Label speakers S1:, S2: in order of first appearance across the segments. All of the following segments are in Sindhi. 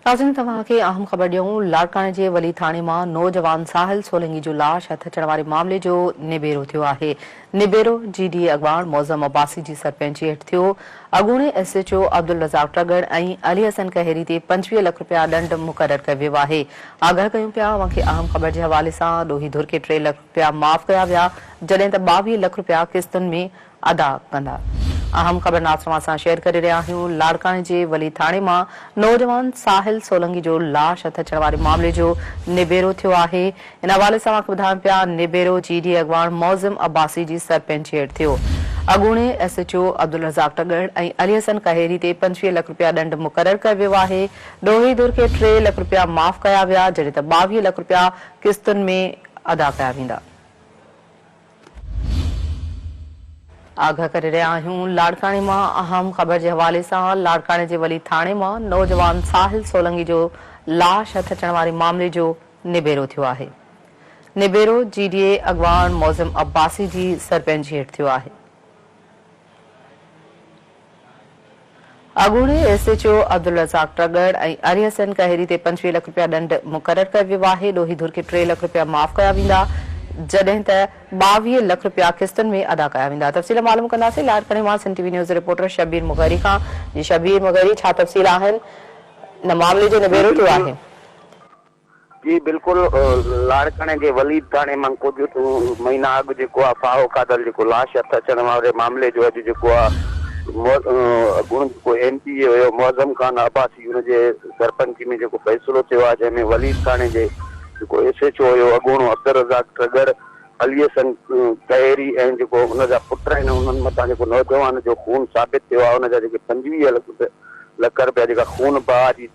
S1: ناظرين توهان کي اهم خبر ڏيون لاڙڪاڻي جي ولي ٿاڻي مان نوجوان ساحل سولنگي جو لاش هٿ اچڻ واري معاملي جو نبيرو ٿيو آهي نبيرو جي ڊي اي اڳواڻ معظم عباسي جي سرپنچي هيٺ ٿيو اڳوڻي S H O Abdul Razzaq Tagar ۽ Ali Hassan Kehiri تي پنجويهه لک رپيا ڏنڊ مقرر ڪيو ويو آهي آگاهه ڪيون پيا اوهان کي اهم خبر جي حوالي سان ڏوهي ڌر کي ٽي لک رپيا معاف ڪيا ويا جڏهن ته ٻاويهه لک رپيا قسطن ۾ ادا ڪندا. اهم خبرناس توهان سان شيئر ڪري رهيا آهيون لاڙڪاڻي جي ولي ٿاڻي مان نوجوان ساحل سولنگي جو لاش هٿ اچڻ واري معاملي جو نبيرو ٿيو آهي ان حوالي سان اوهان کي ٻڌايون پيا نبيرو جي ڊي اڳواڻ معظم عباسي جي سرپنچي هيٺ ٿيو اڳوڻي S H O Abdul Razzaq Tagar ۽ Ali Hassan Kehiri تي پنجويهه لک رپيا ڏنڊ مقرر ڪيو ويو آهي ڏوهي ڌر کي ٽي لک رپيا معاف ڪيا ويا جڏهن ته ٻاويهه لک رپيا قسطن ۾ ادا ڪيا ويندا. آگاهه ڪري رهيا آهيون لاڙڪاڻي مان اهم خبر جي حوالي سان لاڙڪاڻي جي ولي ٿاڻي مان نوجوان ساحل سولنگي جو لاش هٿ اچڻ واري معاملي جو نبيرو ٿيو آهي نبيرو جي ڊي اي اڳواڻ معظم عباسي جي سرپنچي هيٺ ٿيو آهي اڳوڻي S H O Abdul Razzaq Tagar ۽ اري حسين کهيري تي پنجويهه لک رپيا ڏنڊ مقرر ڪيو ويو آهي، ڏوهي ڌر کي ٽي لک رپيا معاف ڪيا ويندا، جڏهن ته ٻاويهه لک رپيا قسطن ۾ ادا ڪيا ويندا، تفصيل معلوم ڪنداسين لاڙڪاڻي مان سنڌ ٽي وي نيوز جي رپورٽر شبير مغيري کان، جي شبير مغيري ڇا تفصيل آهن، ان معاملي جو نبيرو ٿيو آهي؟
S2: جي بلڪل لاڙڪاڻي جي وليد ٿاڻي مان ڪجهه مهينا اڳ جيڪو آ ڦاهو کاڌل جيڪو لاش هٿ اچڻ واري معاملي جو اڄ جيڪو آ اڳوڻو جيڪو ايم پي اي هيو معظم خان عباسي ان جي سرپنچي ۾ جيڪو فيصلو ٿيو آ جنهن ۾ وليد ٿاڻي جي جيڪو ايس ايچ او هيو اڳوڻو عبدالرزاق ٽرڳڙ علي حسن ڪهيري ۽ جيڪو ان جا پٽ آهن انهن مٿان جيڪو نوجوان جو خون ثابت ٿيو آهي ان جا جيڪي پنجويهه لک رپيا جيڪا خون بهاء جي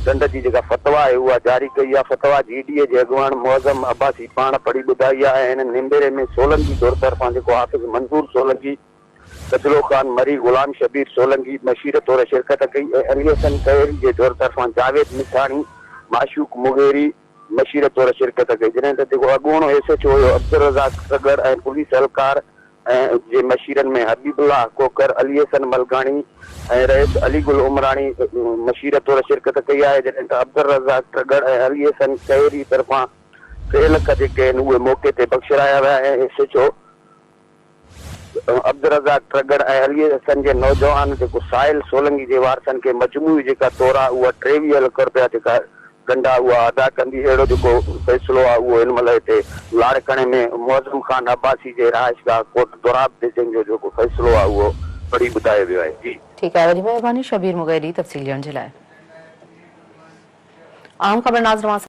S2: ڊنڊ جي جيڪا فتويٰ آهي اها جاري ڪئي آهي فتويٰ جي ڊي اي جي اڳواڻ معظم عباسي پاڻ پڙهي ٻڌائي آهي ۽ هن نيمبري ۾ سولنگي ڌر طرفان جيڪو حافظ منظور سولنگي ڪجلو خان مري غلام شبير سولنگي مشير طور شرڪت ڪئي ۽ علي حسن ڪهيري جي ڌر طرفان جاويد مٺاڻي معشوق مغيري مشير طور شرڪت ڪئي، جڏهن ته جيڪو اڳوڻو ايس ايڇ او هيو عبدالرزاق سڳڙ ۽ پوليس اهلڪار ۽ جي مشيرن ۾ حبيب الله کوکر، علي حسن ملڪاڻي ۽ رئيس علي گل عمراڻي مشير طور شرڪت ڪئي آهي، جڏهن ته عبدالرزاق سڳڙ ۽ علي حسن کهري طرفان ٽي لک جيڪي آهن اهي موقعي تي بخشرايا ويا ۽ S H O. Abdul Razzaq ٽرڳڙ ۽ Ali Hassan جي نوجوان جيڪو سائل سولنگي جي وارثن کي مجموعي جيڪا تور آ اها ٽيويهه لک رپيا جيڪا ڳنڍ آ اها ادا ڪندي اهڙو جيڪو فيصلو آ اهو هن مهل هتي لاڙڪاڻي ۾ معظم خان عباسي جي رهائشگاهه ڪوٽ دوراب تي جنهن جو جيڪو فيصلو آ اهو پڙهي ٻڌايو ويو آهي جي. ٺيڪ آهي وڏي مهرباني
S1: شبير مغيري تفصيل ڏيڻ جي لاء اهم خبر ناز رواں سان.